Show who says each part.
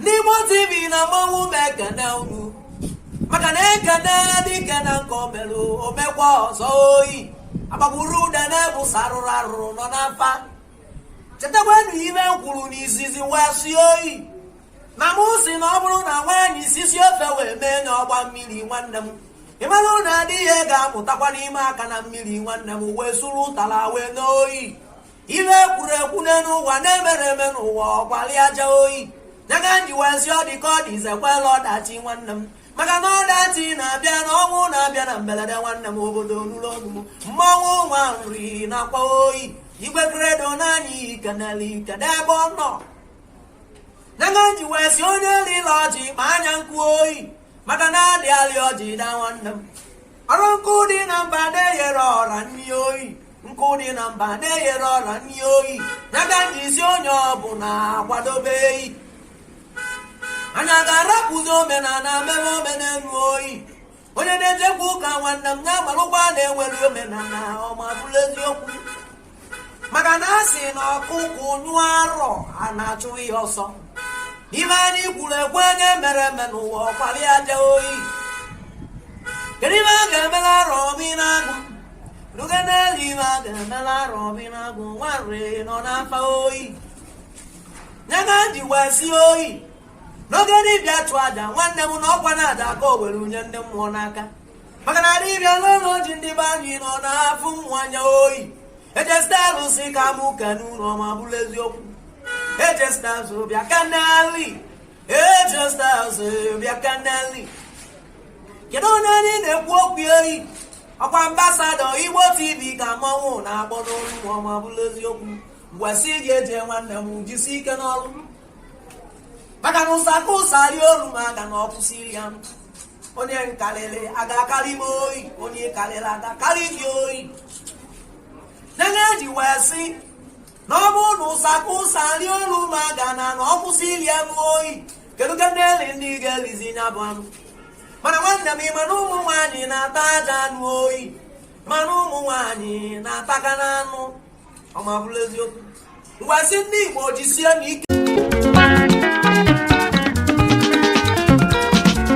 Speaker 1: ndị Igbo TV na mmanwụ m ekene unu maka na e kene dike na nke o melụ o mekwa ọzọ oyi agbagburu ụda na-ebu sarụrụ arụrụ nọ n'afa chetakwanụ ife m kwuru n'izizi wee sị oyi na mụ sị na ọ bụrụ na nwaanyị sisie ofe wee mee nya ọ gbaa mmiri nwanne m ị mara na di ya ga-amụtakwanụ ime aka na mmiri nwanne m wee suru ụtara wee noo oyi ife e kwuru ekwu n'elu ụwa na-emere eme n'ụwa ọkwali aja oyi nya ka m ji wee sị ọ dị ka ọ dị izekwela ọdachi nwanne m maka na ọdachi na-abịa na ọnwụ na-abịa na mberede nwanne m obodo nụrụ ọnụ m mmanwụ nwa nri nakwa oyi igwe kredo naanị ikenele ikede ebe ọ nọ nya ka m ji wee sị onye rịla ọjị kpaa nya nkụ oyi maka na a dị alị ọjị daa nwanne m ọrụ nkụ dị na mba na-eyere ọra nri oyi nkụ dị na mba na-eyere ọra nri oyi nya ka m ji sị onye ọbụla akwadobe oyi anyị ga-arapụzi omenala mebe omenelu oyi onye na-ejekwa ụka nwanne m na-agbalịkwa na-enwere omenala o ma bụrụ eziokwu maka na a sị na ọkụkụ nyụọ arụ ana achụ ya ọsọ ife anyị kwuru ekwu na-emere eme n'ụwa ọkwali aja oyi kedu ife a ga-emelụ Arọbinagụ ruge n'elu ife a ga-emelụ Arọbinagụ nwarị nọ n'afa oyi nya ka e ji wee sị oyi na oke dibịa chụọ aja nwanne m na ọkwa na-adị ka o were nye ndị mmụọ n'aka maka na dibịa n'ụlọ ji ndị be anyị na ọ na-afụ mmụọ anya oyi ejesta alụsị ka mụ kenelụ o ma bụrụ eziokwu ejesta azụ bịa ka n'ali ejesta azụ bịa ka n'ali kedu onye anyị na-ekwu okwu oyi ọkwa ambasadọ Igbo TV ka mmanwụ na-akpọ n'olu mmụọ ma bụrụ eziokwu m wee sị gị eje nwanne m jisi ike n'ọrụ maka na ụsa ka ụsa rie olu ma aga na ọ kwụsị ya onye m karịrị aga-akarị m oyi onye ị karịrị aga-akarị gị oyi nene e ji wee sị na ọ bụrụ na ụsa ka ụsa rie olu ụlọ aga na na ọ kwụsị iri anụ oyi kedu ka ndị eri ndị ga-erizi ya bụ anụ mana nwanne m ị ma na ụmụ nwaanyị na-atacha anụ oyi mana ụmụ nwaanyị na-ataka na anụ o ma bụrụ eziokwu m wee sị ndị Igbo jisienụ ike